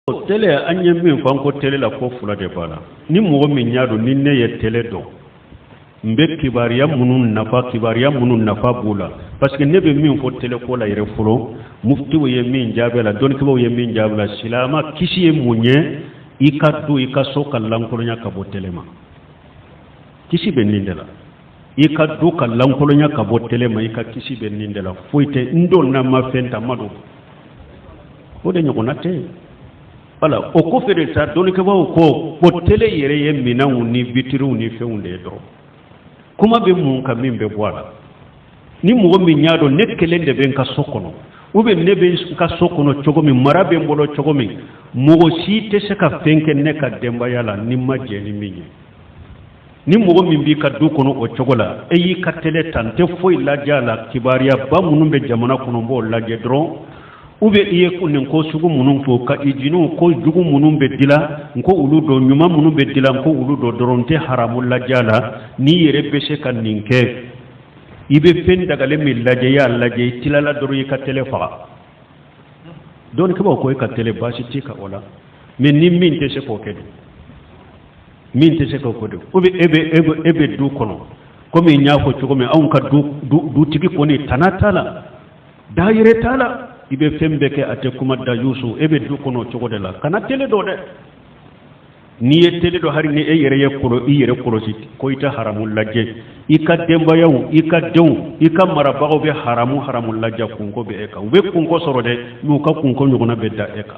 O tele an ye min fɔ an ko tele la ko fila de b'a la ni mɔgɔ min y'a dɔn ni ne ye tele don n bɛ kibaruya minnu nafa kibaruya minnu nafa b'o la parce que ne bɛ min fɔ tele ko la yɛrɛ fɔlɔ muftiw ye min jaabi la dɔnnikɛbaaw ye min jaabi la silamɛ kisi ye mun ye i ka du i ka so ka lankolonya ka bɔ tele ma kisi bɛ nin de la i ka du ka lankolonya ka bɔ tele ma i ka kisi bɛ nin de la foyi tɛ n don n'a ma fɛn ta ma don o de ɲɔgɔnna tɛ yen wala o kɔfɛ de sa dɔnnikɛbaaw ko ko tele yɛrɛ ye minɛnw ni bitiriw ni fɛnw de ye dɔrɔn kuma bɛ mun kan min bɛ bɔ a la ni mɔgɔ min y'a dɔn ne kelen de bɛ n ka so kɔnɔ u bɛ ne bɛ n ka so kɔnɔ cogo min mara bɛ n bolo cogo min mɔgɔ si tɛ se ka fɛn kɛ ne ka denbaya la ni n ma jɛn ni min ye ni mɔgɔ min b'i ka du kɔnɔ o cogo la e y'i ka tele ta n tɛ foyi lajɛ a la kibaruyaba minnu bɛ jamana kɔnɔ n b'o lajɛ dɔrɔn u bɛ i ye nin ko sugu minnu fo ka i jiniw ko jugu minnu bɛ dila n k'olu dɔn ɲuman minnu bɛ dila n k'olu dɔn dɔrɔn n tɛ haramu lajɛ a la n'i yɛrɛ bɛ se ka nin kɛ i bɛ fɛn dagalen min lajɛ i y'a lajɛ i tilala dɔrɔn i ka tele faga dɔnnikɛbaaw ko e ka tele baasi t'i kan o la mais ni min tɛ se k'o kɛ dun min tɛ se k'o kɛ dɛ ko bɛ e bɛ e bɛ e bɛ du kɔnɔ komi n y'a fɔ cogo min anw ka du dutigi kɔni tana t'a la da yɛrɛ t'a la i bɛ fɛn bɛɛ kɛ a tɛ kuma dayusu e bɛ du kɔnɔ o cogo de la kana tele don dɛ n'i ye tele don hali ni e yɛrɛ ye kolo i yɛrɛ kɔlɔsi ko i tɛ haramu lajɛ i ka denbayaw i ka denw i ka marabagaw bɛ haramu haramu lajɛ kunko bɛ e kan u bɛ kunko sɔrɔ dɛ mais u ka kunko ɲɔgɔnna bɛ da e kan